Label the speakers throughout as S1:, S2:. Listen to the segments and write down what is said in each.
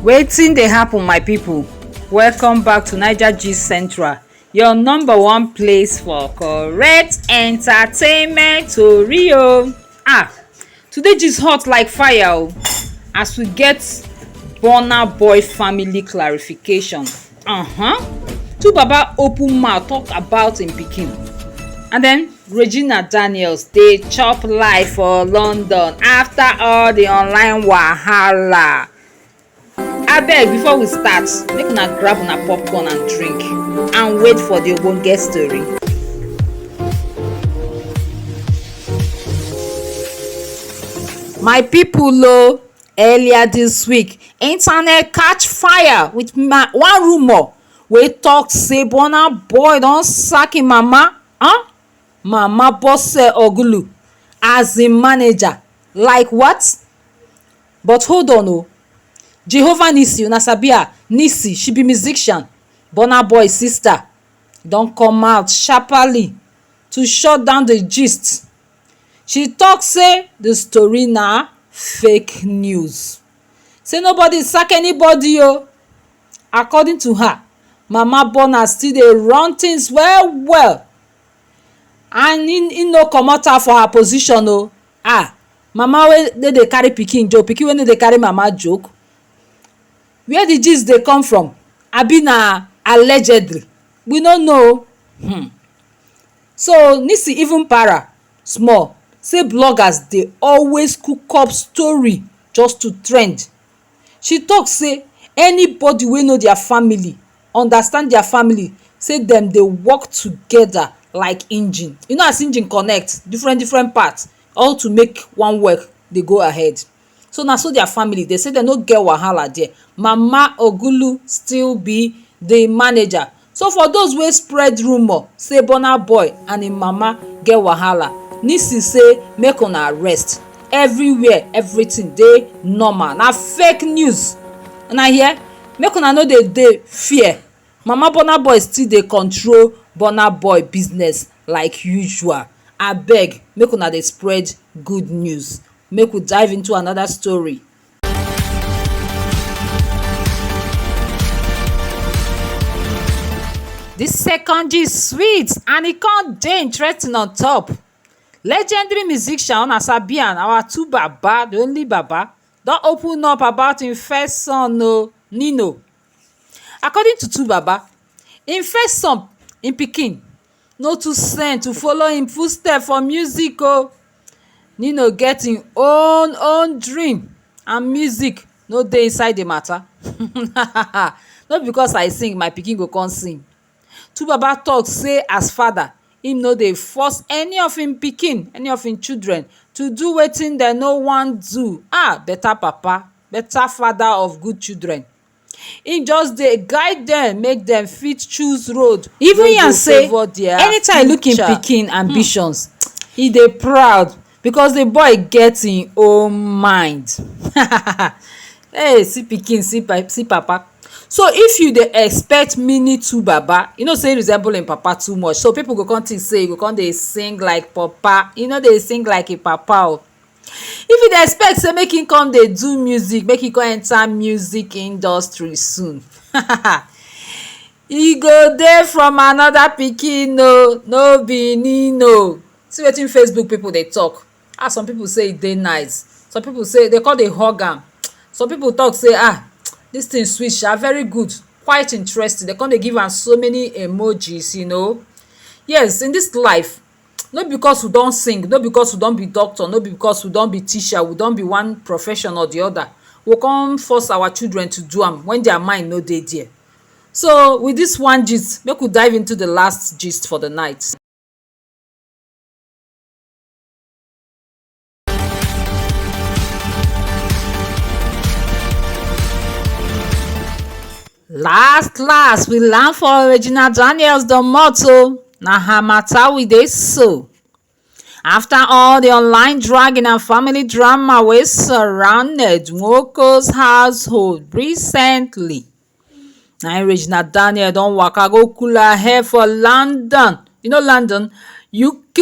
S1: wetin dey happen my people welcome back to niger gist central your number one place for correct entertainment tori o ah Today gist hot like fire o oh. as we get Burna Boy family clarification. Uh-huh. Two baba open mouth talk about im pikin. And then Regina Daniels dey chop life for London after all the online wahala. abeg before we start make una grab una popcorn and drink and wait for the ogbonge story. my people o earlier this week internet catch fire with ma one rumour wey talk say burna boy don sack im mama huh? mama bose ogulu as im manager like what But hold on o, Jehovah Nissi, una sabi her, Nissi, she be musician, Burna Boy sista, don come out sharpaly to shut down di gist. She tok say di story na fake news, say nobody sack anybody o. According to her, Mama Burna still dey run tins well-well and im no comot her for her position o. Ah mama wey no dey carry pikin joke, pikin wey no dey carry mama joke? Where the gist dey come from? Abi na allegedly? We no know o. Hmm. So, Nisi even para small say bloggers dey always cook up story just to trend She tok say anybody wey know dia family understand dia family say dem dey work togeda like engine. You know as engine connect diffren diffren parts all to make one work dey go ahead. So na so dia family dey say dem no get wahala there. Mama Ogulu still be di manager. So for those wey spread rumour say Burna Boy and im mama get wahala, Nisi say make una rest, everywhere everything dey normal, na fake news una hear, make una no dey dey fear, mama Burna Boy still dey control Burna Boy business like usual, abeg make una dey spread good news, make we dive into another story. The second gist sweet and e come dey interesting on top. Legendary musician una sabi am our two baba the only baba don open up about him first son oh Nino. According to two baba him first son him pikin no too send to follow him footstep for music o nino get him own own dream and music no dey inside the matter no be because i sing my pikin go come sing two baba talk say as father him no dey force any of him pikin any of him children to do wetin dem no wan do ah better papa better father of good children Him just dey guide dem make dem fit choose road wey go favour their future. He even yarn say anytime he look him pikin ambitions, he dey proud because the boy get him own mind. Hey! See pikin, see papa. So, if you dey expect mini two baba, you know say him resemble him papa too much. So, pipu go con think say he go con dey sing like papa. He no dey sing like him papa oh! If you dey expect sey make im come dey do music, make im come enter music industry soon e go dey from another pikin oh, no be im im oh. See wetin Facebook pipu dey talk. How some pipu say e dey nice. Some pipu say de con dey hug am. Some pipu talk sey ha! dis thing sweet sha, very good, quite interesting. De con dey give am so many emojis you know. Yes, in dis life no be because we don sing, no be because we don be doctor, no be because we don be teacher, we don be one profession or the other, we go con force our children to do am when their mind no dey dere. So, with dis one gist, make we dive into the last gist for the night. last last we land for regina daniels domot o na her matter we dey so after all the online dragging and family drama wey surrounded nwoko's household recently na im regina daniel don waka go cool her head for london you know london uk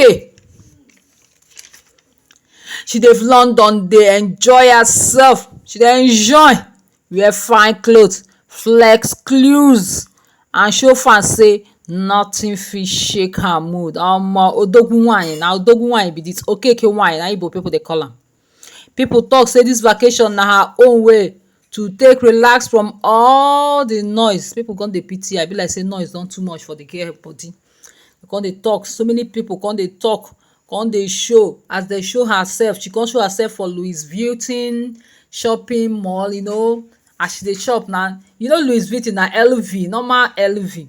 S1: she dey london dey enjoy herself she dey enjoy wear fine cloth flex clues and show fans say nothing fit shake her mood omo odogwu wine na odogwu wine be this okeke wine na igbo people dey call am. Pipu talk sey dis vacation na her own way to take relax from all the noise. Pipu con dey pity her. E be like sey noise don too much for the girl body. E con dey talk. So many pipu con dey talk, con dey show. As de show herself, she con show herself for Louis Vuitton shopping mall. You know, as she dey shop na, you know Louis Vuitton na LV, normal LV.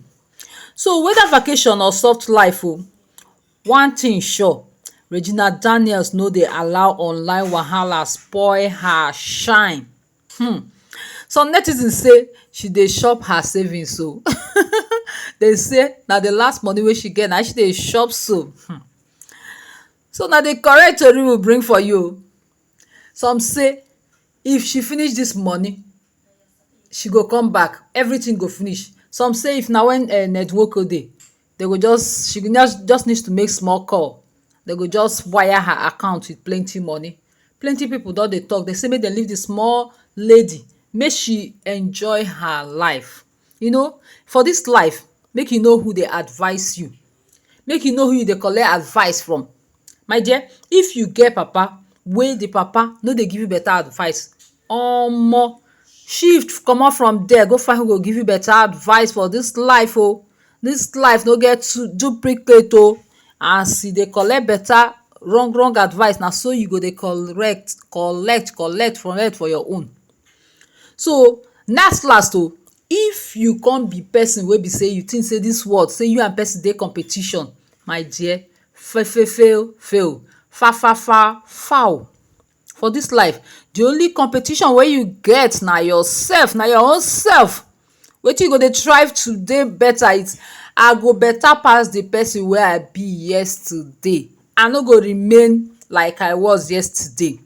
S1: So whether vacation or soft life oh One thing sure, Regina Daniels no dey allow online wahala spoil her shine. Hmm. Some netizens say she dey chop her savings o. Dem say na the last money wey she get na im she dey chop so. Hmm. So na the correct tori we bring for you o. Some say if she finish dis money, she go come back, everything go finish. Some say if na when um Ned Nwoko dey, dey go just she go just need to make small call dey go just wire her account with plenty money plenty people don dey talk dey say make dem leave the small lady make she enjoy her life you know for this life make you know who dey advice you make you know who you dey collect advice from My dear, if you get papa wey the papa no dey give you better advice, omo shift comot from dere go find who go give you better advice for dis life oh. Dis life no get two duplicate oh. As you dey collect better wrong wrong advice, na so you go dey correct collect collect for head for your own. So las las oh, if you con be person wey be sey you think sey dis world sey you and person dey competition, my dear Fefefew few Fafafar fowl For this life the only competition wey you get na yourself na your own self Wetin you go dey try to dey better is I go better pass the person wey I be yesterday I no go remain like I was yesterday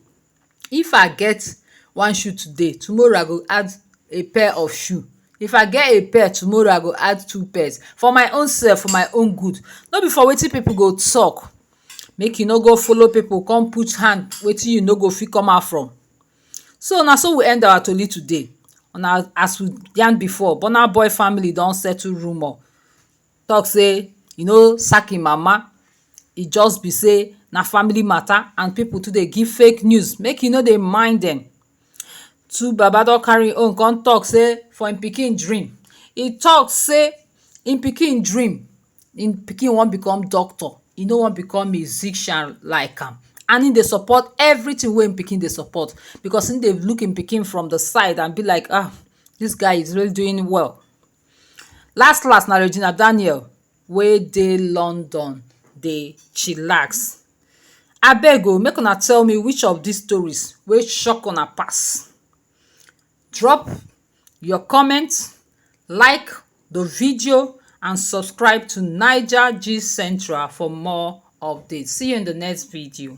S1: If I get one shoe today, tomorrow I go add a pair of shoe. If I get a pair, tomorrow I go add two pairs. For my own self, for my own good. No be for wetin pipu go talk. Make you no go follow pipu con put hand wetin you no go fit come out from. So, na so we end our tori today. Una as we yarn before, Burna Boy family don settle rumour. talk say e no sack him mama e just be say na family matter and people too dey give fake news make e no dey mind dem two baba don carry him own come talk say for him pikin dream e talk say him pikin dream him pikin wan become doctor e no wan become musician like am and him dey support everything wey him pikin dey support because him dey look him pikin from the side and be like ah this guy is really doing well Last last na Regina Daniel wey dey London dey chillax. Abeg o make una tell me which of dis stories wey shock una pass? Drop your comment, like the video and subscribe to Naija Gist Central for more updates. See you in the next video.